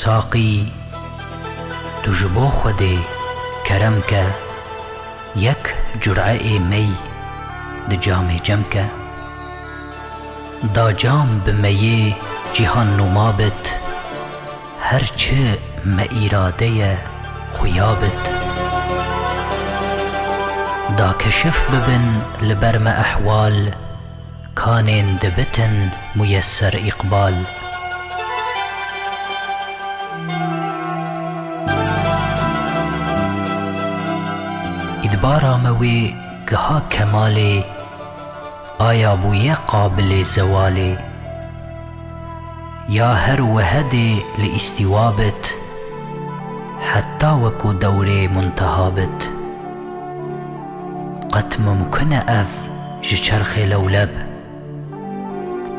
Saqî tu ji bo Xwedê kerem ke yek cur'eê mey di camê cem ke. Da cam bi meyê cîhan nûma bit. Her çi me îrade ye xuya bit. Da keşif bibin li ber me ehwal, kanên dibitin muyesser îqbal. Îdbara me wê giha kemalê. Aya bûye qabilê zewalê? Ya her wiha dê li îstîwa bit heta wekû dewrê munteha bit? Qet mimkun e ev ji çerxê lewleb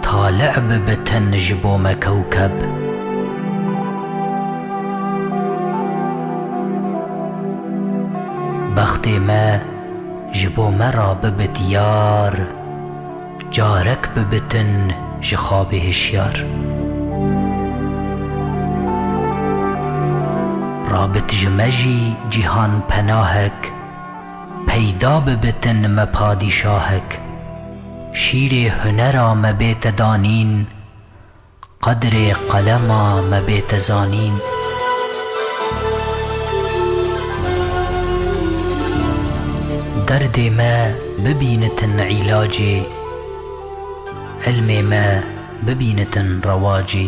tali'e bibitin ji bo me kewkeb? Bextê me. ji bo me re bibe diyar, carek bibe tin ji xabê hişyar. Rabit ji me jî cîhan penahek, peyda bibe tin me padîşahek. Şîrê hunera me bête danîn. Qedrê qelema me bê te zanîn. Derdê me bibînitin îlacê. Îlmê me bibînitin rewacê.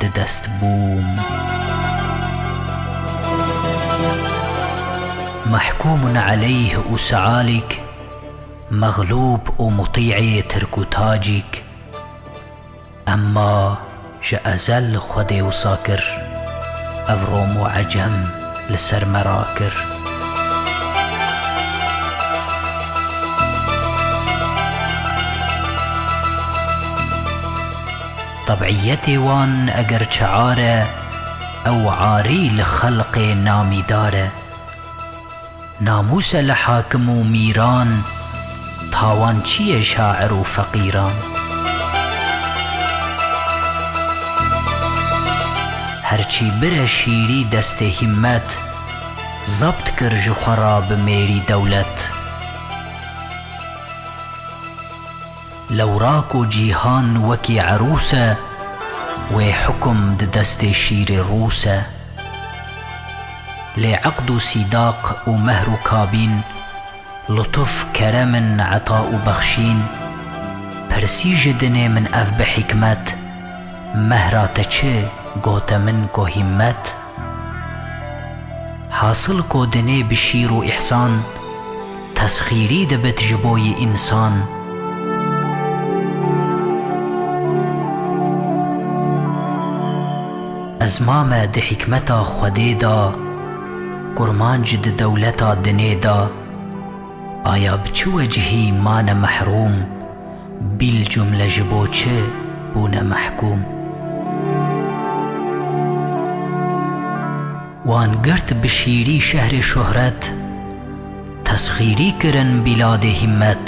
di dest bûm. Mehkûmun eleyh û Sealîk, Mexlûb û Mutîê Tirk û Tacîk, emma ji ezel xwe dê wisa kir, ev Rom û Ecem li ser me rakir. Tebîyetê wan eger çiar e, ew arî li xelqê namîdar e. Namûs e li hakim û mîran, tawan çiyê şair û feqîran. Her çî bire şîrî destê hîmmet, zebt kir ji xwe ra bi mêrî dewlet. Lewra ku cîhan wekî erûs e, wê hukum di destê şîrê rûs e. Lê eqd û sîdaq û mehr û kabîn, lutuf, kerem in, eta û bexşîn, pirsî ji dinê min ev bi hîkmet, Mehra te çi, gote min ku hîmmet. Hasil ko dinê bi şîr û îhsan, tesxîrî dibit ji bo yî însan. Ez mame di hîkmeta Xwedê da, kurmanc di dewleta dinê da. Aya bi çi wecihî mane mehrûm? Bîlcumle ji bo çi bûne mehkûm? Wan girt bi şîrî şehrê şohret, Tesxîrî kirin bîladê hîmmet.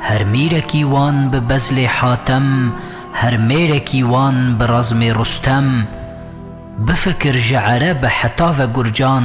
Her mîrekî wan bi bezlê Hatem, Her mêrekî wan bi razmê Rustem. Bifikir ji erebe heta ve gurcan,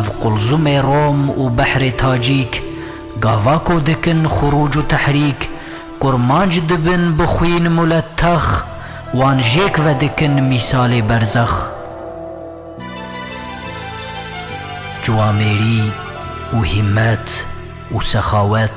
Ev Qulzumê Rom û Behrê Tacîk, gava ku dikin xurûc û tehrîk, kurmanc dibin bi xwîn muletex, wan jêk vedikin mîsalê berzex. Ciwamêrî û hîmmet û sexawet.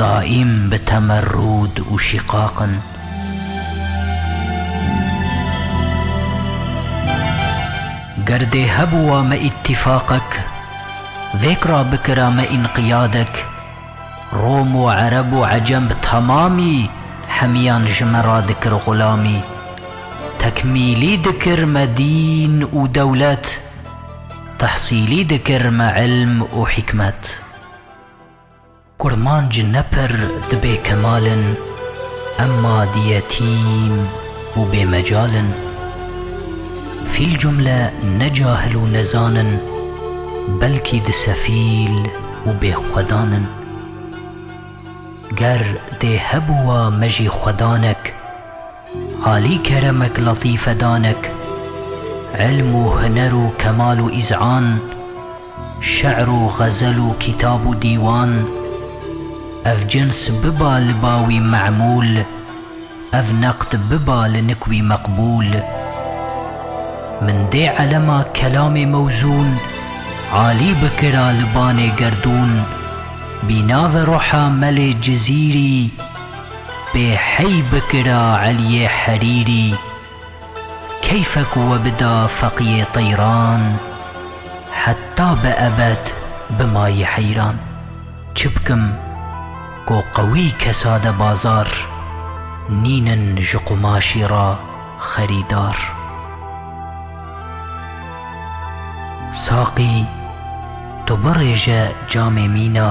Daîm bi temerrûd û şîqaq in. Ger dê hebûa me îttîfaqek, vêk ra bikira me înqiyadek, Rom û Ereb û Ecem bi temamî hemîyan ji me ra dikir xulamî. Tekmîlî dikir me dîn û dewlet, tehsîlî dikir me îlm û hîkmet. Kurmanc ne pir dibê kemal in, emma di yetîm û bêmecal in. Fîl cumle ne cahil û nezan in, belkî di sefîl û bêxwedan in. Ger dê hebûwa me jî xwedanek, alî keremek latîfedanek, ilm û huner û kemal û îz'an, Şi'r û xezel û kîtab û dîwan, ev cins biba li ba wî me'mûl, ev neqd biba li nik wî meqbûl. Min dê elema kelamê mewzûn, alî bikira li banê gerdûn, bînave roha Melê Cizîrî, bê hey bikira Eliyê Herîrî. Keyfe ku we bida feqiyê teyran Heta bi ebed bimayî heyran Çi bikim ku qewî kesa de bazar Nînin ji qumaşî re xerîdar Saqî tu birêje camê mîna